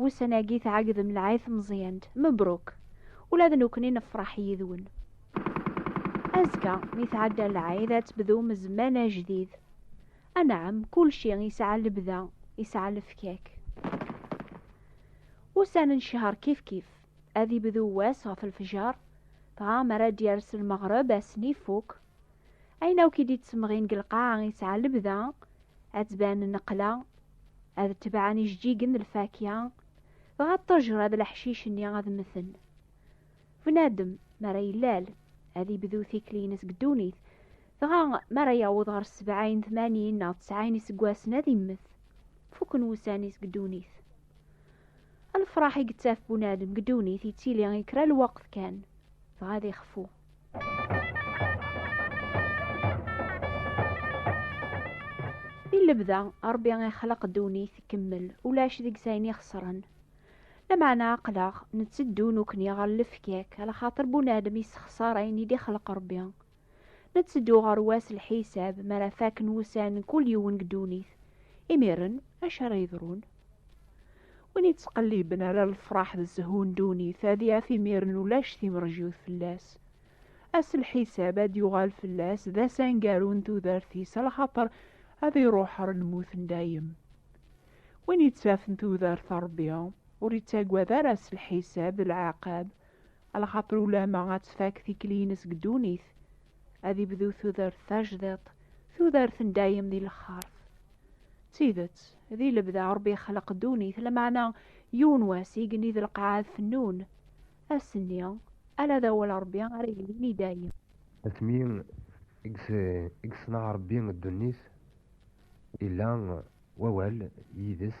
Wussan-agi tɛegdem lɛay tmeẓyant. Mebruk! Ula d nekkni nefraḥ yid-wen. Azekka, mi tɛedda lɛayd, ad tebdum zzman ajdid. Anɛam, kulci yesɛa lebda, yesɛa lefkak. Ussan n ccehr kifkif. Ad ibdu wass ɣef lefjer, dɣa mi ara d-yers lmeɣreb, ass-nni ifuk. Ayen akk i d-ittemɣin deg lqaɛa yesɛa lebda, ad tban nneqla, ad tebɛen ijeǧǧigen d lfakya, dɣa ṭṭejra d leḥcic-nni ad mmten. Bnadem, mi ara yellal, ad ibdu tikli-ines deg ddunit, dɣa mi ara yaweḍ ɣer sebɛin, tmanin neɣ tesɛin iseggasen ad immet. Fuken wussan-is deg ddunit. Lefraḥ i yettaf bunadem deg ddunit yettili i kra lweqt kan, dɣa ad ixfu. I lebda, Ṛebbi ixleq ddunit tkemmel, ulac deg-s ayen ixeṣren. Lameɛna aql-aɣ netteddu nekkni ɣer lefkak, lxaṭer bunadem yessexṣar ayen i d-ixleq Ṛebbi. Netteddu ɣer wass lḥisab, mi ara fakken wussan n kul yiwen deg ddunit. Imiren, acu ara yeḍrun? Win yettqelliben ala lefraḥ d zzhu n ddunit ad yaf imiren ulac timrejyut fell-as. Ass n lḥisab ad d-yuɣal fell-as d ass aneggaru n tudert-is a lxaṭer ad iruḥ ɣer lmut n dayem. Win yettafen tudert n Rebbi ur yettagad ara ass n lḥisab d lɛiqab a lxaṭer ulamma ad tfak tikli-ines deg ddunit, ad ibdu tudert tajdiḍt tudert n dayem di lexxart d tidet di lebda rebbi ixleq ddunit lameɛna yiwen wass igenni d lqaɛa fennun ass-nni ala d awal rebbi ara yilin i dayem asmi i yeṣneɛ rebbi ddunit illa wawal yid-s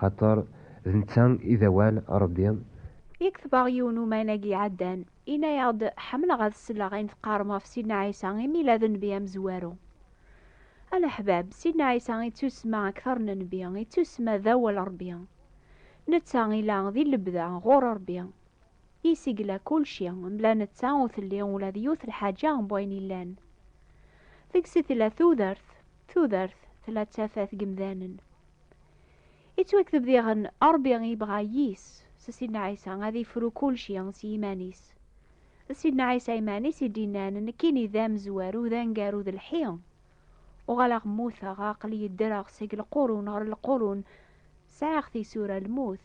Xaṭer d netta i d awal Ṛebbi. Yekteb-aɣ yiwen umayna-agi iɛeddan, yenna-aɣ-d, Ḥemmleɣ ad sleɣ ayen teqqarem ɣef Sidna Ɛisa imi yella d nnbi amezwaru. A leḥbab, Sidna Ɛisa yettusemma akteṛ n nnbi, yettusemma d awal Ṛebbi. Netta ila di lebda ɣur Ṛebbi. Yis-s i yella kulci, mebla netta ur telli ula d yiwet lḥaǧa n wayen yellan. Deg-s i tella tudert, tudert tella d tafat n yemdanen. Ittwakteb diɣen Ṛebbi yebɣa yis s Sidna Ɛisa ad ifru kulci s yiman-is. D Sidna Ɛisa iman-is i d-innan nekkini d amezwaru d angaru d lḥi. Uɣaleɣ mmuteɣ, aql-iyi ddreɣ seg lqurun ɣer lqurun, sɛiɣ tisura lmut,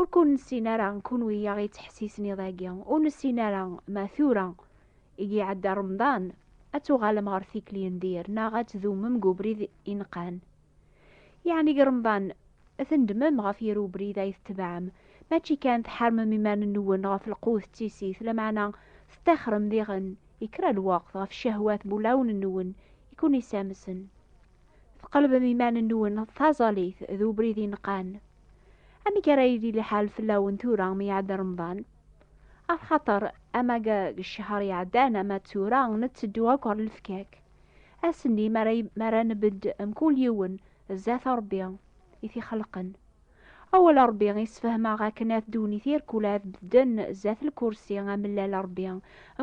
Ur kun-nessin ara kunwi i aɣ-yettḥessisen iḍ-agi, ur nessin ara ma tura i iɛedda Remḍan ad tuɣalem ɣer tikli n dir neɣ ad tdumem deg ubrid ineqqan. Yeɛni deg Remḍan tnedmem ɣef yir ubrid ay tetbeɛem, mačči kan tḥermem iman-nwen ɣef lqut d tissit, lameɛna teṭṭixrem diɣen i kra n lweqt ɣef ccehwat n wulawen-nwen i kun-yessamsen. Tqelbem iman-nwen d taẓallit d ubrid ineqqan. amek ara yili liḥal fell-awen tura mi iɛedda remḍan af xaṭer ama deg ccehṛ iɛeddan ama d tura netteddu akk ɣer lefkak ass-nni mi ara mi ara nbedd mkul yiwen zdat Ṛebbi i t-ixelqen awal Ṛebbi yessefhem-aɣ akken at ddunit irkul ad bedden zdat lkursi amellal Ṛebbi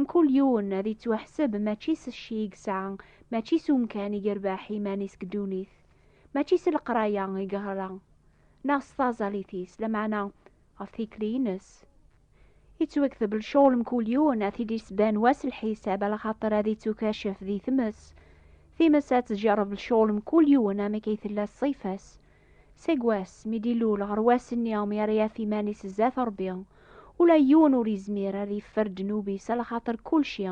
mkul yiwen ad yettwaḥseb mačči s cci i yesɛa mačči s umkan i yerbeḥ iman-is deg ddunit Mačči s leqraya i yeɣra, neɣ s taẓalit-is, lameɛna ɣef tikli-ines. Yettwakteb lcuɣel mkul yiwen ad t-id-isban wass lḥisab ala xaṭer ad ittukacef di tmes. Times ad tjerreb lcuɣel mkul yiwen amek ay tella ṣṣifa-s. Seg wass mi d-ilul ɣer wass-nni mi ara yaf iman-is zdat Rebbi, ula yiwen ur yezmir ad yeffer ddnub-is ala xaṭer kulci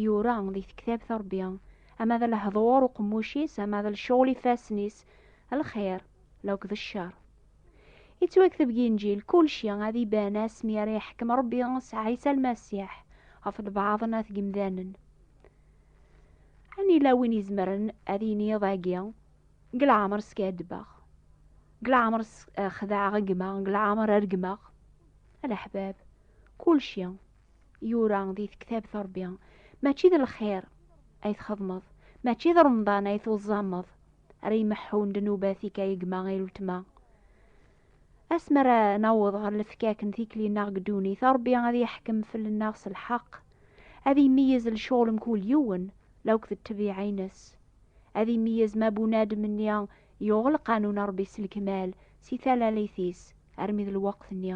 yura di tektabt n Rebbi, ama d lehdur uqemmuc-is, ama d lecɣel ifassen-is, lxir lakk d ccer. Yettwakteb deg Inǧil kulci ad iban asmi ara yeḥkem Rebbi s Ɛisa Lmasiḥ ɣef lbaɛḍ n at yimdanen. An yella win izemren ad yini iḍ-agi, deg leɛmer skaddbeɣ, deg leɛmer xedɛeɣ gma, deg leɛmer regmeɣ? A leḥbab, kulci yura di tektabt Ṛebbi, mačči d lxir ay txedmeḍ, mačči d Remḍan ay tuẓẓameḍ ara imeḥḥun ddnubat-ik ay gma ay weltma. Asmi ara naweḍ ɣer lefkak n tikli-nneɣ deg ddunit, Ṛebbi ad yeḥkem fell-nneɣ s lḥeqq, ad imeyyez lecɣel mkul yiwen la akked ṭṭbiɛa-nnes, ad imeyyez ma bunadem-nni yuɣ lqanun n Ṛebbi s lekmal si talalit-is armi d lweqt-nni.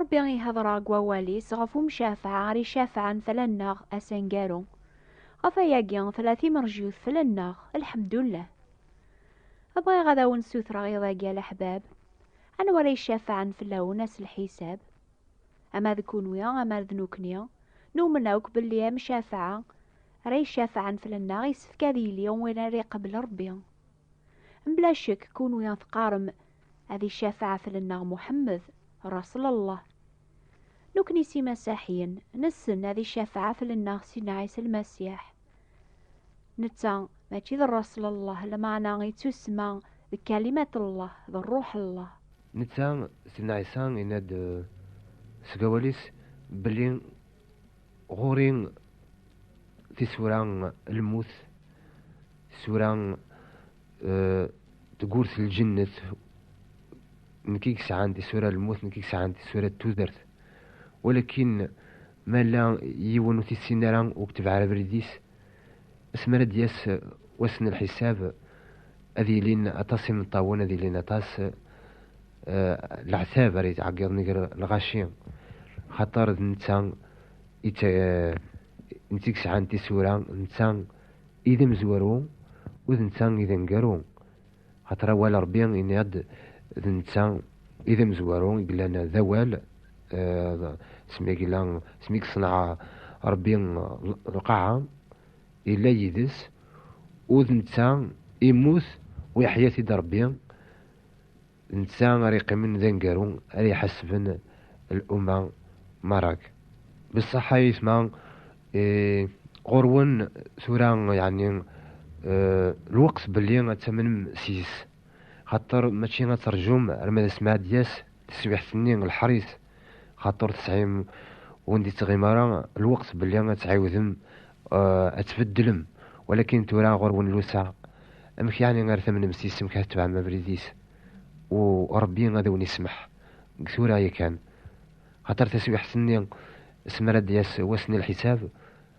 Ṛebbi ihedṛa deg wawal-is ɣef umcafeɛ ara icafɛen fell-anneɣ ass aneggaru. Ɣef wayagi tella timerjut fell-anneɣ, lḥemdullah. Bɣiɣ ad awen-ssutreɣ iḍ-agi a leḥbab, anwa ara icafɛen fell-awen ass lḥisab? Ama d kunwi ama d nukni, numen akk belli amcafeɛ ara icafɛen fell-anneɣ yessefk ad yili win ara iqebbel Ṛebbi. Mbla ccek kunwi ad teqqarem ad icafaɛet lennaɣ Muḥemmed, Raṣlallah. Nukni s imasaḥiyen, nessen ad icafaɛet lennaɣ Sidna Ɛisa Lmasiḥ. Netta mačči d Raṣlallah, lmeɛna ittusemma d Kalimat-llah, d Rruḥ-llah. Netta, Sidna Ɛisa, yenna-d seg awal-is belli Ɣur-i tisura n lmut, Sura euh, tgurt lǧennet nekk i yesɛan tisura lmut nekk i yesɛan tisura tudert walakin ma la yiwen ur tissin ara ur ketbeɛ ara abrid-is asmi ara d-yas euh, wass n lḥisab ad yilin aṭas imeṭṭawen ad yilin aṭas euh, leɛtab ara yetɛeggiḍen gar lɣaci xaṭer d netta netta i yesɛan tisura netta I d amezwaru, u d netta i d aneggaru. Axaṭer awal Ṛebbi yenna-d d netta i d amezwaru i yellan d awal, smi i yella, smi i yeṣneɛ Ṛebbi lqaɛa, yella yid-s, u d netta i yemmut u yeḥya-t-id Ṛebbi. Netta ara yeqqimen d aneggaru ara iḥasben luma Marak. Bessaḥ a yetma ɣur-wen tura yeɛni lweqt belli ad tamnem seg-s, xaṭer mačči ad terjum arma d asmi ad d-yas taswiɛt-nni lḥer-is xaṭer tesɛim ur d-ittɣim ara lweqt belli ad tɛiwdem ad tbeddlem walakin tura ɣur-wen lusa amek yeɛni ar tamnem s yisem kat tebɛem abrid-is u Ṛebbi ad awen-ismeḥ deg tura yakan xaṭer taswiḥt-nni s mi ara d-yas wass n lḥisab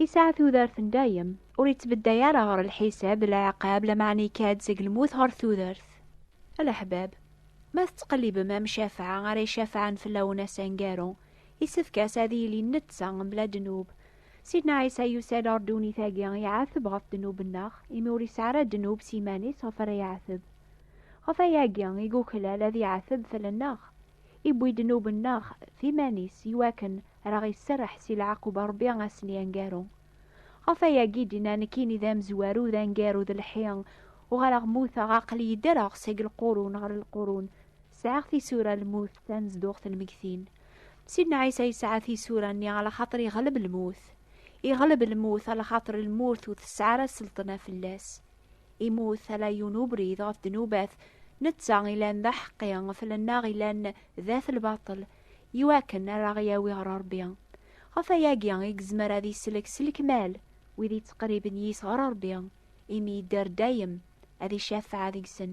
Yesɛa tudert n dayem, ur yettbedday ara ɣer lḥisab d leɛqab lameɛna yekka-d seg lmut ɣer tudert. A leḥbab, ma tettqellibem am Cafɛa ara icafɛen fell-awen ass aneggaru, yessefk-as ad yili netta mebla ddnub. Sidna Ɛisa yusa-d ɣer ddunit-agi iɛateb ɣef ddnub-nneɣ, imi ur yesɛi ara ddnub s yiman-is ɣef ara iɛateb. Ɣef wayagi i yuklal ad iɛateb fell-aneɣ. iwwi-d ddnub-nneɣ d iman-is i wakken ar aɣ-iserreḥ si leɛqub n Rebbi a sen-yangaru. Ɣef ayagi i d-inna nekkini d amezwaru d angaru d lḥi, uɣaleɣ muteɣ aql-iyi ddreɣ seg lqurun ɣer lqurun, sɛiɣ tisura n lmut tanezduɣt n lmegtin. Sidna Ɛisa yesɛa tisura-nni a laxaṭer iɣleb lmut. Iɣleb lmut a laxaṭer lmut ur tesɛi ara sselṭna fell-as. Imut ala yiwen ubrid ɣef ddnubat, netta ilan d aḥeqqi, fell-nneɣ ilan d at lbaṭel, iwakken ara ɣ-yawi ɣer Ṛebbi. Ɣef ayagi i gezmer ad isellek s lekmal wid ittqerriben yis ɣer Ṛebbi, imi idder dayem ad icafeɛ deg-sen.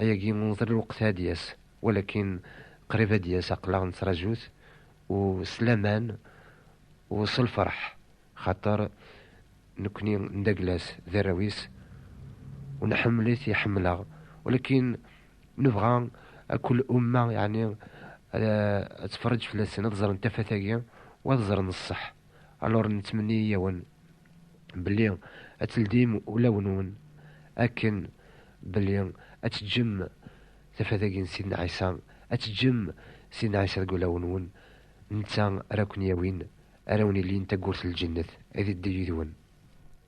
Ayagi uḍal lweqt ad d-yas, walakin qrib ad d-yas aqlaɣ nettraju-t u s laman u s lferḥ xaṭer nekkni ndagel-as d arraw-is u nḥemmel-it iḥemmel-aɣ walakin nebɣa akk lumma yeɛni ad tferreǧ fell-asen ad ẓren tafat-agi u ad ẓren ṣṣeḥ. Alors nettmenni-yawen belli ad teldim ulawen-nwen akken belli ad teǧǧem tafat-agi n Sidna Ɛisa, ad teǧǧem Sidna Ɛisa deg ulawen-nwen, netta ara ken-yawin, ara wen-ilin taggurt n lǧennet, ad iddi yid-wen.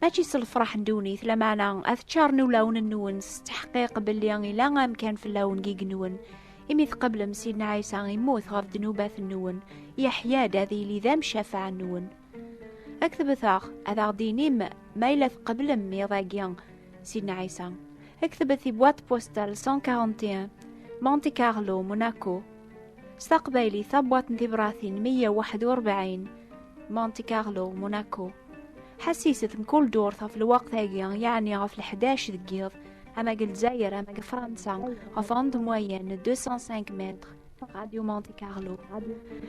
Mačči s lefraḥ n ddunit, lameɛna ad ččaren ulawen-nwen s tteḥqiq belli ila amkan fell-awen gig-nwen. Imi tqeblem Sidna Ɛisa immut ɣef ddnubat-nwen, yeḥya-d ad yili d amcafaɛ-nwen. Ad k-tebteɣ, ad aɣ-d-inim ma yella tqeblem iḍ-agi Sidna Ɛisa. Ad k-tebet i boîte postale 141, Monte Carlo, Monaco. s taqbaylit tabwatt n tibratin 141 Monte Carlo Monaco ḥassiset mkul durt ɣef lwaqt-agi yeɛni ɣef l-11 deg yiḍ ama deg Lezzayer ama deg Fransa ɣef onde moyenne 205 mètres Radio Monte Carlo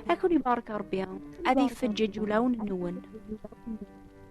ad ken ibarek Rebbi ad ifeǧǧeǧ ulawen-nwen